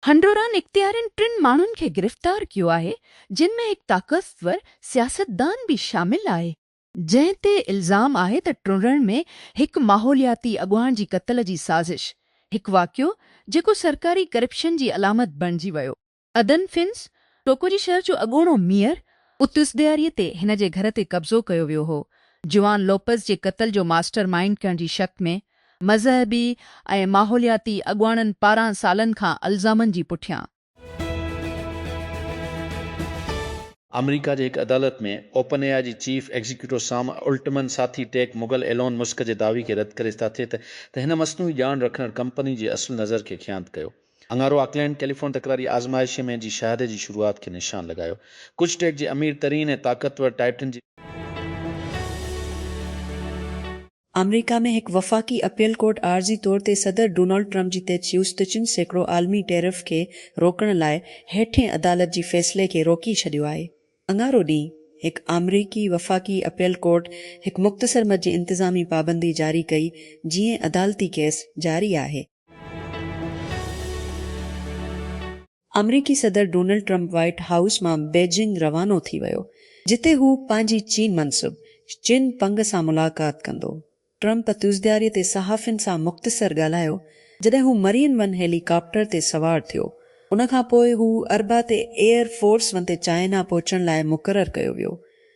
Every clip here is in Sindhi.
هنڊوران اختيارين ٽن ماڻهن کي گرفتار ڪيو آهي جن ۾ هڪ طاقتور سياستدان به شامل آهي، جنهن تي الزام آهي ته ٽرڻرن ۾ هڪ ماحولياتي اڳواڻ جي قتل جي سازش، هڪ واقعو جيڪو سرڪاري ڪرپشن جي علامت بڻجي ويو. ادن فنس، ٽوڪوجي شهر جو اڳوڻو ميئر، اتس ڏياري تي هن جي گهر تي قبضو ڪيو ويو هو. جوان لوپز جي قتل جو ماسٽر مائينڊ ڪرڻ جي شڪ ۾ مذهبي ۽ ماحولياتي اڳواڻن پاران سالن کان الزامن جي پٺيان. آمريڪا جي هڪ عدالت ۾ اوپن اي آء جي چيف ايگزيڪيوٽو سام الٽمن ساٿي ٽيڪ مغل ايلون مسڪ جي دعوي کي رد ڪري ستاٿي ته هن مصنوعي ڄاڻ رکندڙ ڪمپني جي اصل نظر کي خيانت ڪيو. اڱارو آڪلينڊ ٽيليفون تڪراري آزمائش ۾ جي شاهدي جي شروعات کي نشان لڳايو. ڪڇ ٽيڪ جي امير ترين ۽ طاقتور ٽائٽن جي. آمريڪا ۾ هڪ وفاقي اپيل ڪورٽ عارضي طور تي صدر ڊونلڊ ٽرمپ جي تجويز ته چن سيڪڙو عالمي ٽيرف کي روڪڻ لاء هيٺين عدالت جي فيصلي کي روڪي ڇڏيو آهي. اڱارو ڏينهن هڪ آمريڪي وفاقي اپيل ڪورٽ هڪ مختصر مد جي انتظامي پابندي جاري ڪئي جيئن عدالتي ڪيس جاري آهي. آمريڪي صدر ڊونلڊ ٽرمپ وائيٽ هائوس مان بيجنگ روانو ٿي ويو جتي هو پنهنجي چين منسب چن پنگ سان ملاقات ڪندو. ٽرمپ تيوزدياري تي صحافين سان مختصر ڳالهايو جڏهن هو مرين ون هيلي ڪاپٽر تي سوار ٿيو. ان کان پوء هو اربع تي ايئر فورس ون تي چائنا پهچڻ لاء مقرر ڪيو ويو.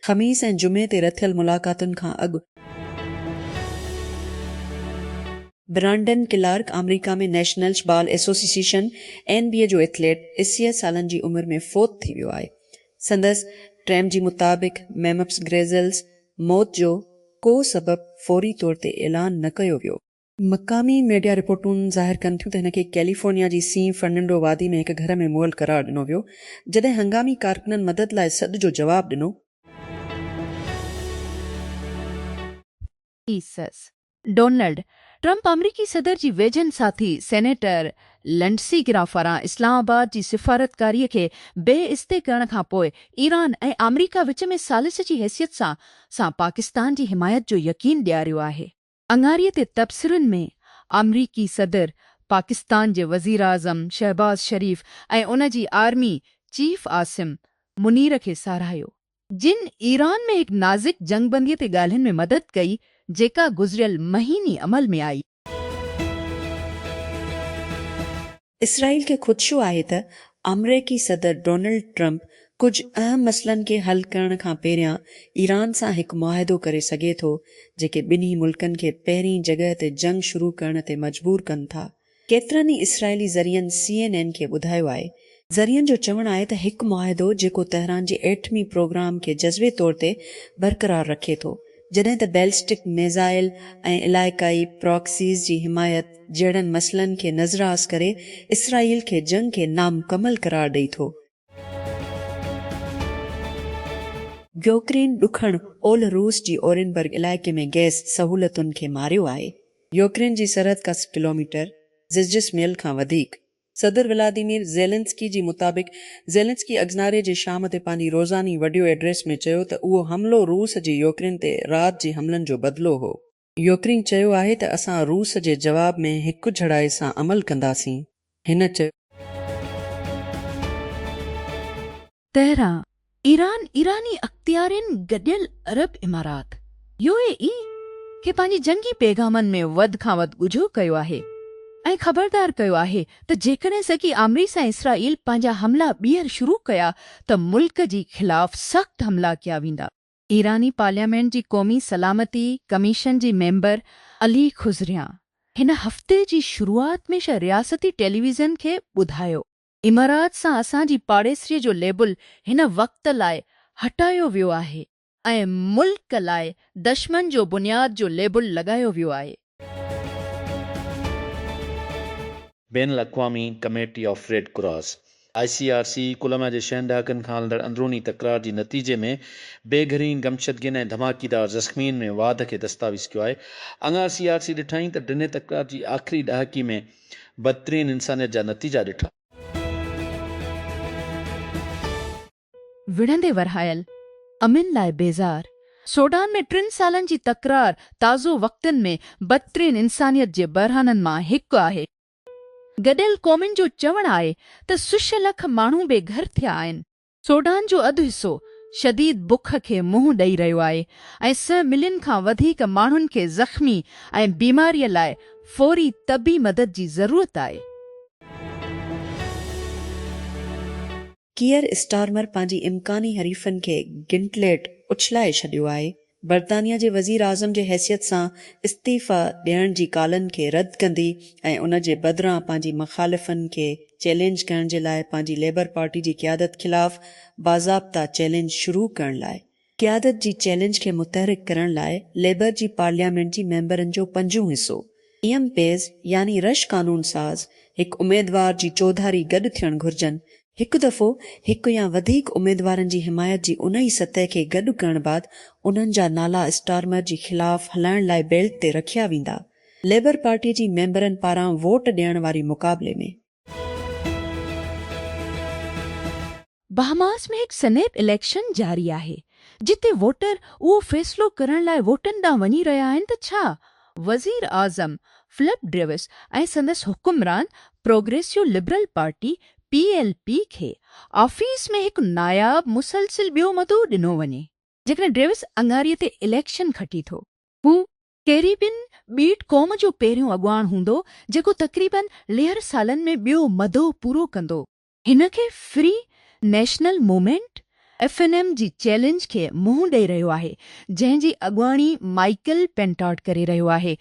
خميس ۽ جمعي تي رٿيل ملاقاتن کان اڳ. برانڊن ڪلارڪ آمريڪا ۾ نيشنلش بال ايسوسيسيشن، اين بي اي، جو ايٿليٽ اسيء سالن جي عمر ۾ فوت ٿي ويو آهي. سندس ٽيم جي مطابق ميمفس گريزلز موت جو ڪو سبب فوري طور تي اعلان نه ڪيو ويو. مقامي ميڊيا رپورٽون ظاهر ڪن ٿيون ته هن کي ڪيليفورنيا جي سين فرننڊو وادي ۾ هڪ گهر ۾ مئل قرار ڏنو ويو، جڏهن هنگامي ڪارڪنن مدد لاء سڏ جو جواب ڏنو. ايسز، ڊونلڊ ٽرمپ آمريڪي صدر جي ويجهن ساٿي سينيٽر لنڊسي گرام پاران اسلام آباد جي سفارتڪاري کي بي عزتي ڪرڻ کان پوء ايران ۽ آمريڪا وچ ۾ ثالث جي حيثيت سان سان پاڪستان جي حمايت جو يقين ڏياريو آهي. اڱاري تي تبصرن ۾ آمريڪي صدر، پاڪستان جي وزيراعظم شهباز شريف ۽ ان جي آرمي چيف عاصم منير کي ساراهيو، جن ايران ۾ هڪ نازڪ جنگ بندي تي ڳالهين ۾ مدد ڪئي، جيڪا گذريل مهيني عمل ۾ آئي. اسرائيل کي خدشو آهي ته آمريڪي صدر ڊونلڊ ٽرمپ ڪجهه اهم مسئلن کي حل ڪرڻ کان پهريان ايران سان هڪ معاهدو ڪري سگهي ٿو، جيڪي ٻنهي ملڪن کي پهرين جڳهه تي جنگ شروع ڪرڻ تي مجبور ڪن ٿا. ڪيترن ئي اسرائيلي ذريعن سي اين اين کي ٻڌايو آهي، ذريعن جو چوڻ آهي ته هڪ معاهدو جيڪو تهران جي ايٽمي پروگرام کي جزوي طور تي برقرار رکي ٿو جڏهن ته بيلسٽڪ ميزائل ۽ علائقائي پراڪسيز جي حمايت جهڙن مسئلن کي نظراس ڪري اسرائيل کي جنگ کي نامڪمل قرار ڏئي ٿو. يوڪرين ڏکڻ اولھ روس جي اورينبرگ علائقي ۾ گئس سهولتن کي ماريو آهي. يوڪرين جي سرحد ڪا سئو ڪلوميٽر، ززجسميل کان وڌيڪ، صدر ولاديمير زيلنسڪي جي مطابق زيلنسڪي اگزناري جي شام تي پنهنجي روزاني وڊيو ايڊريس ۾ چيو ته اهو حملو روس جي يوڪرين تي رات جي حملن جو بدلو هو. يوڪرين چيو آهي ته اسان روس جي جواب ۾ هڪجھڙائي سان عمل ڪنداسين، هن چيو. تهران، ايران ايراني اختيارين گڏيل عرب امارات، يو اي اي، کي پنهنجي جنگي پيغامن ۾ وڌ کان وڌ ڳجهو ڪيو آهي ۽ خبردار ڪيو آهي ته جيڪڏهن سگي آمريس ۽ اسرائيل پنهنجا حملا ٻيهر شروع ڪيا ته ملڪ جي خلاف سخت حملا ڪيا ويندا. ايراني پارليامينٽ جي قومي سلامتي ڪميشن جي ميمبر علي خضريان هن هفتي جي شروعات ۾ شه رياستي ٽيليويزن کي ٻڌايو امارات سان اسان جي پاڙيسري جو ليبل هن وقت لاء هٽايو ويو آهي ۽ ملڪ لاء دشمن جو بنياد جو ليبل لڳايو ويو آهي. بين الاقوامي committee of Red Cross, I C R C, Colombia جي شهن ڏهاڪن کان هلندڙ اندروني تڪرار جي نتيجي ۾ بي گهرين گمشدگين ۽ ڌماڪيدار زخمين ۾ واڌ کي دستاويز ڪيو آهي. اڱار سي آر سي ڏٺائين ته ڊني تڪرار جي آخري ڏهاڪي ۾ بدترين انسانيت جا نتيجا ڏٺا. وڙهندي ورهايل، امن لاء بيزار، سوڊان ۾ ٽن سالن جي تڪرار تازو وقتن ۾ بدترين انسانيت جي بحرانن مان هڪ آهي. گڏيل قومن جو چوڻ آهي ته سش لک ماڻهو بي گهر ٿيا آهن. سوڊان جو اڌ حصو شديد بک کي منهن ڏئي رهيو آهي ۽ سئه ملين کان وڌيڪ ماڻهن کي زخمي ۽ بيماري لاء فوري طبي مدد جي ضرورت آهي. ڪيئر اسٽارمر پنهنجي امڪاني حريفن کي گنٽليٽ اڇلائي ڇڏيو آهي برطانيا جي وزيراعظم جي حيثيت سان استعيفيٰ ڏيڻ جي ڪالن کي رد ڪندي ۽ ان جي بدران پنهنجي مخالفن کي چئلينج ڪرڻ جي لاء پنهنجي ليبر پارٽي جي قيادت خلاف باضابطه چئلينج شروع ڪرڻ لاء قيادت جي چئلينج کي متحرڪ ڪرڻ لاء ليبر جي پارليامينٽ جي ميمبرن جو پنجون حصو ايم پيز يعني رش قانون ساز هڪ اميدوار جي چوڌاري گڏ ٿيڻ گهرجن، هڪ دفعو هڪ يا وڌيڪ اميدوارن جي حمايت جي ان ئي سطح کي گڏ ڪرڻ بعد انهن جا نالا اسٽارمر جي خلاف هلائڻ لاء بيلٽ تي رکيا ويندا ليبر پارٽي جي ميمبرن پاران ووٽ ڏيڻ واري مقابلي ۾. بهاماس ۾ هڪ سنيپ اليڪشن جاري آهي، جتي ووٽر اهو فيصلو ڪرڻ لاء ووٽن ڏانهن وڃي رهيا آهن ته ڇا وزيراعظم فلپ ڊيوس ۽ سندس حڪمران Progressive Liberal Party, P L P, کي آفيس ۾ هڪ ناياب مسلسل ٻيو مدو ڏنو وڃي. جيڪڏهن ڊيوس اڱاري تي اليڪشن کٽي ٿو، هو ڪيريبين ٻيٽ قوم جو پهريون اڳواڻ هوندو جيڪو تقريبن ليهر سالن ۾ ٻيو مدو پورو ڪندو. هن کي Free National Movement, F N M, جي چئلينج کي منهن ڏئي رهيو آهي جنهن جي اڳواڻي مائيڪل پينٽاڊ ڪري رهيو آهي.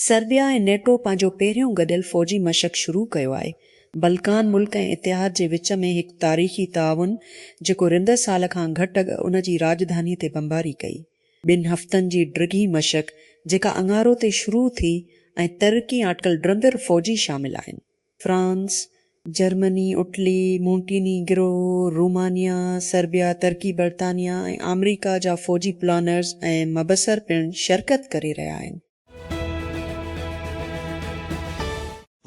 سربيا ۽ نيٽو پنهنجو پهريون گڏيل فوجي مشق شروع ڪيو آهي. بلڪان ملڪ ۽ اتحاد جي وچ ۾ هڪ تاريخي تعاون جيڪو رندر سال کان گهٽ اڳ ان جي راڄڌاني تي بمباري ڪئي. ٻن هفتن جي ڊگهي مشق جيڪا اڱارو تي شروع ٿي ۽ ترڪي آٽڪل ڊرندر فوجي شامل آهن. France, Germany, Italy, Montenegro, Romania, Serbia, ترڪي، برطانيا ۽ آمريڪا جا فوجي پلانرز ۽ مبصر پڻ شرڪت ڪري رهيا آهن.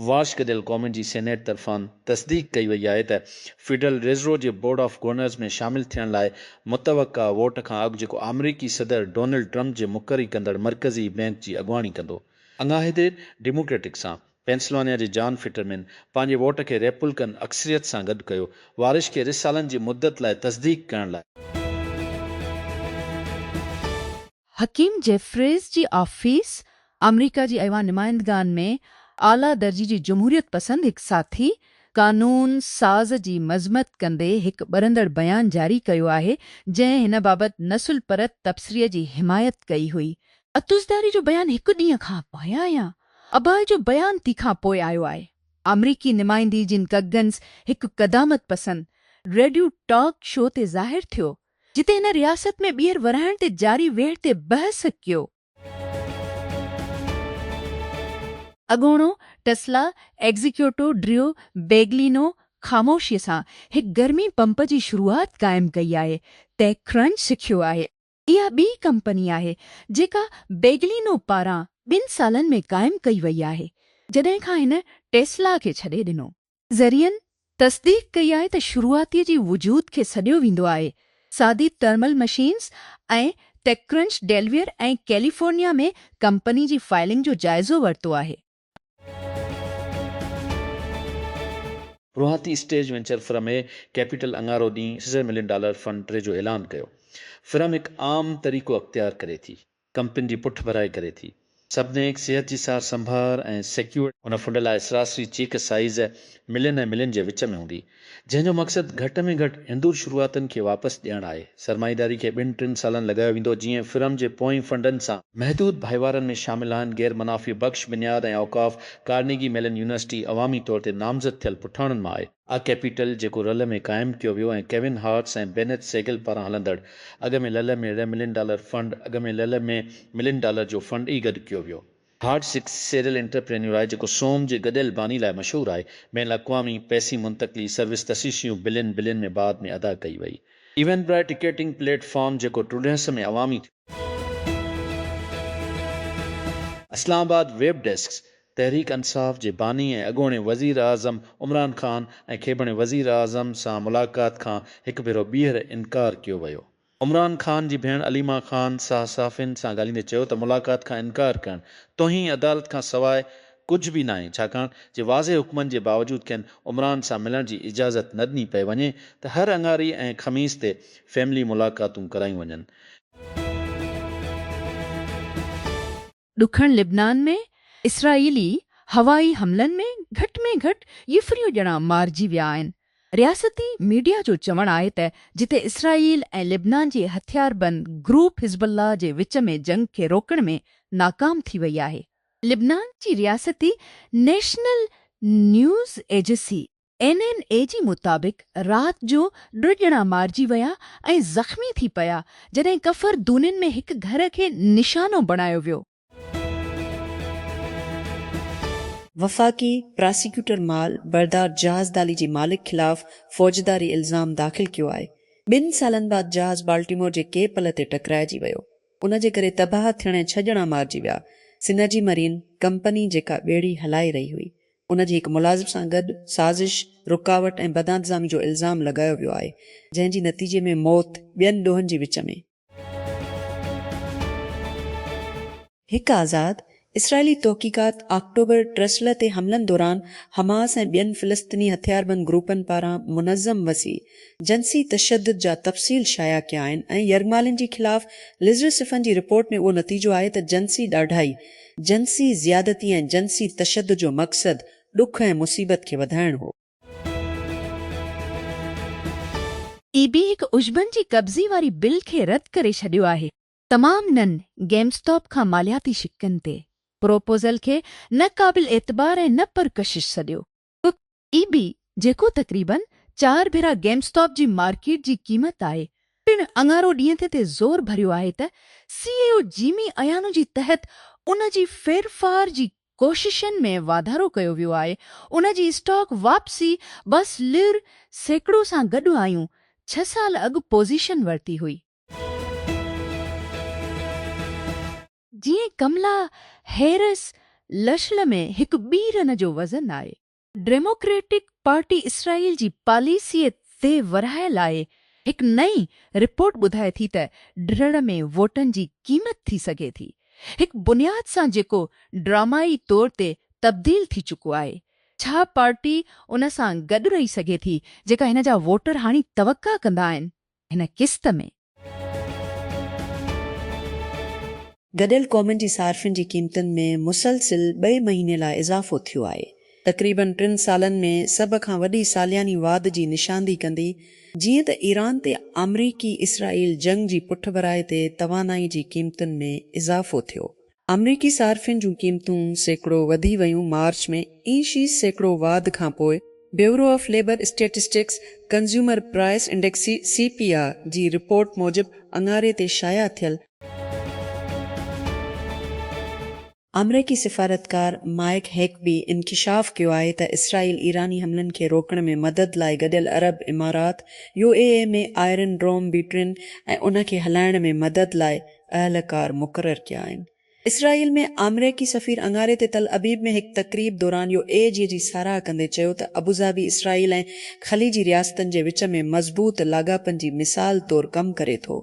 واشڪ ديل ڪومن جي سينيٽ طرفان تصديق ڪئي وئي آهي ته فيڊرل ريزرو جي بورڊ آف گورنرز ۾ شامل ٿيڻ لاء متوقع ووٽ کان اڳ جيڪو آمريڪي صدر ڊونلڊ ٽرمپ جي مقري ڪندڙ مرڪزي بينڪ جي اڳواڻي ڪندو. اڱاهيدي ڊيموڪريٽڪ سان پينسلوانيا جي جان فٽرمين پنهنجي ووٽ کي ريپولڪن اڪثريت سان گڏ ڪيو، وارش کي رھ سالن جي مدت لاء تصديق ڪرڻ لاء. حڪيم جيفريز جي آفيس آمريڪا جي ايوان نمائندگان ۾ اعليٰ درجي جي جمهوريت پسند هڪ ساٿي قانون ساز جي مذمت ڪندي هڪ ٻرندڙ بيان جاري ڪيو آهي جنهن هن بابت نسل پرت تبصري جي حمايت ڪئي هئي. اتوزداري جو بيان هڪ ڏينهن کان پايان يا اباهه جو بيان تي کان پوء آيو آهي. آمريڪي نمائندي جن ڪگنز هڪ قدامت پسند ريڊيو ٽاڪ شو تي ظاهر ٿيو، جتي هن رياست ۾ ٻيهر ورهائڻ تي جاري ويڙهه تي بحث ڪيو. اڳوڻو ٽسلا ايگزيڪيوٽو ڊريو بيگلينو خاموشيء سان هڪ گرمي پمپ جي شروعات قائم ڪئي آهي، تي ڪرنچ سکيو آهي. اها ٻي ڪمپني آهي جيڪا بيگلينو پاران ٻن سالن ۾ قائم ڪئي وئي آهي جڏهن کان هن ٽيسلا کي ڇڏي ڏنو. ذريعن تصديق ڪئي آهي ته شروعاتي جي وجود کي سڏيو ويندو آهي، سادي thermal machines ۽ TechCrunch Delaware ۽ California ۾ company جي فائلنگ جو جائزو ورتو آهي. روهاتي stage venture firm A Capital اڱارو ڏينهن سيزر ملين ڊالر فنڊ ٽري جو اعلان ڪيو، فرم هڪ عام طريقو اختيار ڪري ٿي، ڪمپنين جي پٺ ڀرائي ڪري ٿي، سڀنيڪ صحت جي سار سنڀار ۽ سيڪيورٽي. هن فنڊ لاء سراسري چيڪ سائيز ملين ۽ ملين جي وچ ۾ هوندي. جنهن جو مقصد گهٽ ۾ گهٽ هندور شروعاتن کي واپس ڏيڻ آهي. سرمائيداري کي ٻن ٽن سالن لڳايو ويندو جيئن فرم جي پوئين فنڊن سان. محدود ڀائيوارن ۾ شامل آهن غير منافع بخش بنياد ۽ اوقاف، ڪارنيگي ميلن يونيورسٽي عوامي طور تي نامزد ٿيل پٺاڻن مان آهي. آء ڪيپيٽل جيڪو رل ۾ قائم ڪيو ويو ۽ ڪيون هارٽس ۽ بينيٿ سيگل پاران هلندڙ اڳ ۾ لل ۾ ڙي ملين ڊالر فنڊ اڳ ۾ لل ۾ ملين ڊالر جو فنڊ ئي گڏ ڪيو ويو. هارڊ سڪ سيريل انٽرپرينيور آهي جيڪو سوم جي گڏيل باني لاء مشهور آهي. بين الاقوامي پئسي منتقلي سروس تشيشيون بلين بلين ۾ بعد ۾ ادا ڪئي وئي. ايونبرائي ٽڪيٽنگ پليٽ فارم جيڪو ٽرڊينس ۾ عوامي ٿيو. اسلام آباد، ويب ڊيسڪ، تحريڪ انصاف جي باني ۽ اڳوڻي وزيراعظم عمران خان ۽ کيبڻي وزيراعظم سان ملاقات کان هڪ ڀيرو ٻيهر انڪار ڪيو ويو عمران خان جي ڀيڻ عليما خان صحافين سان ڳالهيندي چيو ته ملاقات کان انڪار ڪرڻ توهين عدالت کان سواء ڪجهه به ناهي ڇاڪاڻ جي واضح حڪمن جي باوجود کين عمران سان ملڻ جي اجازت نه ڏني پئي وڃي ته هر اڱاري ۽ خميس تي فيملي ملاقاتون ڪرايون وڃن. ڏکڻ لبنان ۾ اسرائيلي هوائي حملن ۾ گهٽ ۾ گهٽ ڄڦريون ڄڻا مارجي ويا آهن. رياستي ميڊيا جو چوڻ آهي ته جتي اسرائيل ۽ لبنان جي هٿياربند گروپ حزب الله جي وچ ۾ جنگ کي روڪڻ ۾ ناڪام ٿي وئي آهي. لبنان جي رياستي نيشنل نيوز ايجسي اين اين اي جي مطابق رات جو ٽه ڄڻا مارجي ويا ۽ زخمي ٿي پيا جڏهن ڪفر دونين ۾ هڪ گهر کي نشانو بڻايو ويو. وفاقي پراسيڪيوٽر مال بردار جهاز دالي جي مالڪ خلاف فوجداري الزام داخل ڪيو آهي، ٻن سالن بعد جهاز بالٽيمور جي ڪي پل تي ٽڪرائجي ويو، ان جي ڪري تباهه ٿيڻ ۽ ڇهه ڄڻا مارجي ويا، سنرجي مرين ڪمپني جيڪا ٻيڙي هلائي رهي هئي، ان جي هڪ ملازم سان گڏ سازش، رڪاوٽ ۽ بدانتظامي جو الزام لڳايو ويو آهي، جنهن جي نتيجي ۾ موت ٻين ڏوهن جي وچ ۾. هڪ آزاد اسرائيلي تحقيقات آڪٽوبر ٽرسلهه تي حملن دوران حماس ۽ ٻين فلسطيني هٿياربند گروپن پاران منظم وسيع جنسي تشدد جا تفصيل شايع ڪيا آهن ۽ يرغمالين جي خلاف لزرسفن جي رپورٽ ۾ اهو نتيجو آهي ته جنسي ڏاڍائي جنسي زيادتي ۽ جنسي تشدد جو مقصد ڏک ۽ مصيبت کي وڌائڻ هو. اي بي هڪ عشبن جي قبضي واري بل کي رد ڪري ڇڏيو آهي. تمام نن گيم اسٽاپ کان مالياتي شقن تي پروپوزل کي نه قابل اعتبار ۽ نه پرڪشش سڏيو. ڪک اي بي جيڪو تقريبن چار ڀيرا گيم اسٽاپ جي مارڪيٽ جي قيمت آهي پڻ اڱارو ڏينهن تي تي زور ڀريو آهي ته سي اي او جيمي ايانو جي تحت ان جي ڦيرڦار جي ڪوششن ۾ واڌارو ڪيو ويو آهي ان جي اسٽاڪ واپسي بس لر سيڪڙو سان گڏ آيون ڇهه سال اڳ پوزيشن ورتي هئي. جيئن ڪملا هيرس لشل ۾ هڪ ٻي رن جو وزن آهي. ڊيموڪريٽڪ پارٽي اسرائيل جي پاليسيء تي ورهاء لاء هڪ نئين رپورٽ ٻڌائي ٿي ته ڊھڙ ۾ ووٽن جي قيمت ٿي سگهي ٿي هڪ بنياد سان جيڪو ڊرامائي طور تي تبديل ٿي چڪو آهي ڇا پارٽي ان سان گڏ رهي سگهي ٿي جيڪا هن جا ووٽر هاڻي توقع ڪندا آهن هن قسط ۾. گڏيل قومن جي صارفين جي قيمتن ۾ مسلسل ٻئي مهيني لاء اضافو ٿيو آهي. تقريبن ٽن سالن ۾ سڀ کان وڏي سالياني واڌ جي نشاندهي ڪندي جيئن ته ايران تي آمريڪي اسرائيل جنگ جي پٺڀرائي تي توانائي جي قيمتن ۾ اضافو ٿيو آمريڪي صارفين جون قيمتون سيڪڙو وڌي ويون مارچ ۾ اي شي سيڪڙو واڌ کانپوء Bureau of Labor Statistics consumer price index, C P I, جي رپورٽ موجب اڱاري تي شايع ٿيل، آمريڪي سفارتڪار مائيڪ هيڪبي انڪشاف ڪيو آهي ته اسرائيل ايراني حملن کي روڪڻ ۾ مدد لاء گڏيل عرب امارات، U A E, ۾ iron dome بيٽرين ۽ ان کي هلائڻ ۾ مدد لاء اهلڪار مقرر ڪيا آهن. اسرائيل ۾ آمريڪي سفير اڱاري تي تل ابيب ۾ هڪ تقريب دوران يو اي جي جي ساراهه ڪندي چيو ته ابوظهبي اسرائيل ۽ خليجي رياستن جي وچ ۾ مضبوط لاڳاپن جي مثال طور ڪم ڪري ٿو.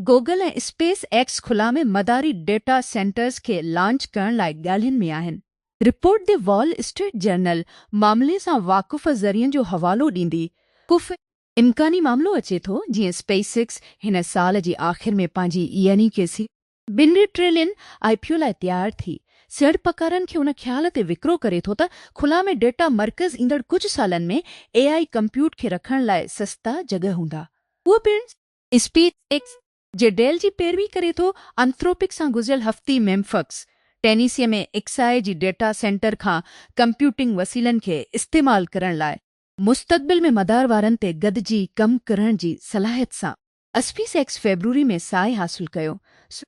گوگل ۽ اسپيس ايڪس خلا ۾ مداري ڊيٽا سينٽرز کي لانچ ڪرڻ لاء ڳالهين ۾ آهن. Report the Wall Street Journal معاملي سان واقف ذريعن جو حوالو ڏيندي ڪوفي امڪاني معاملو اچي ٿو جيئن اسپيس ايڪس هن سال جي آخر ۾ پنهنجي يعني ڪي سي. ٻن ٽريلين آء پي او لاء تيار ٿي سيڙپڪارن کي ان خيال تي وڪرو ڪري ٿو ته خلا ۾ ڊيٽا مرڪز ايندڙ ڪجهه سالن ۾ اي آء ڪمپيوٽ کي رکڻ لاء سستا جڳهه هوندا اهو پڻ اسپيس ايڪس جي ڊيل جي پيروي ڪري ٿو انٿروپڪ سان گذريل هفتي ميمفڪس ٽينيسي ۾ ايڪس آء جي ڊيٽا سينٽر کان ڪمپيوٽنگ وسيلن کي استعمال ڪرڻ لاء مستقبل ۾ مدار وارن تي گڏجي ڪم ڪرڻ جي صلاحيت سان اسپيس ايڪس فيبروري ۾ ساهي حاصل ڪيو سو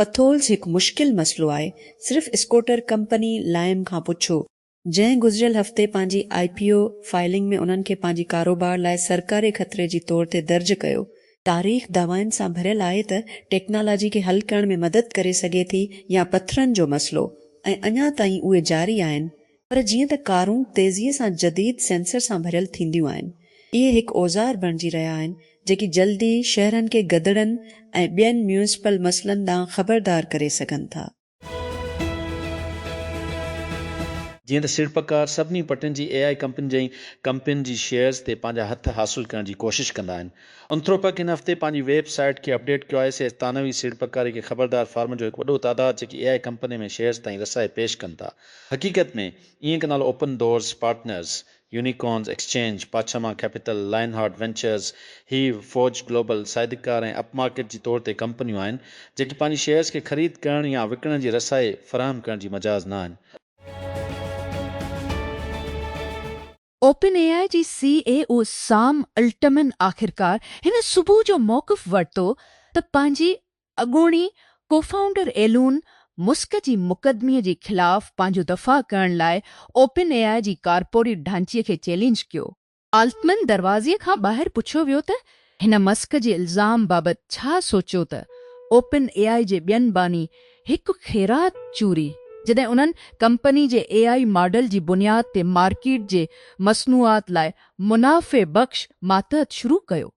پٿولز هڪ مشڪل مسئلو آهي، صرف اسڪوٽر ڪمپني لائم کان پڇو، جنهن گذريل هفتي پنهنجي آء پي او فائلنگ ۾ انهن کي پنهنجي ڪاروبار لاء سرڪاري خطري جي طور تي درج ڪيو، تاريخ دعوائن سان ڀريل آهي ته ٽيڪنالاجي کي حل ڪرڻ ۾ مدد ڪري سگهي ٿي يا پٿرن جو مسئلو ۽ اڃا تائين اهي جاري آهن پر جيئن ته ڪارون تيزيء سان جديد سينسر سان ڀريل ٿينديون آهن اهي هڪ اوزار بڻجي رهيا آهن جيڪي جلدي شهرن کي گدڙن ۽ ٻين ميونسپل مسئلن ڏانهن خبردار ڪري سگهن ٿا. جيئن ته سيڙپڪار سڀني پٽين جي اي آء ڪمپنين جي ڪمپنين جي شيئرز تي پنهنجا هٿ حاصل ڪرڻ جي ڪوشش ڪندا آهن. انٿروپڪ هن هفتي پنهنجي ويب سائيٽ کي اپڊيٽ ڪيو آهي سي ثانوي سيڙپڪاري کي خبردار فارمن جو هڪ وڏو تعداد جيڪي اي آء ڪمپنين ۾ شيئرز تائين رسائي پيش ڪن ٿا حقيقت ۾ اينڪ نالو Open Doors Partners Unicorns Exchange, پاڇما Capital, Lionheart Ventures, Hiive, Forge Global, Sydecar ۽ Upmarket جي طور تي ڪمپنيون آهن، جيڪي پنهنجي شيئرز کي خريد ڪرڻ يا وڪڻڻ جي رسائي فراهم ڪرڻ جي مجاز نه آهن. اوپن اي آء جي C E O Sam Altman آخرڪار هن صبح جو موقف ورتو ته پنهنجي اڳوڻي ڪوفائونڊر ايلون مسڪ جي مقدمي جي خلاف پنهنجو دفاع ڪرڻ لاء اوپن اي آء جي ڪارپوريٽ ڍانچي کي چئلينج ڪيو. آلٽمن دروازي کان ٻاهر پڇيو ويو ته هن مسڪ جي الزام بابت ڇا سوچيو ته اوپن اي آء جي ٻين باني هڪ خيرات چوري جڏهن انهن ڪمپني جي اي آء ماڊل جي بنياد تي مارڪيٽ جي مصنوعات لاء منافعي بخش ماتحت شروع ڪيو.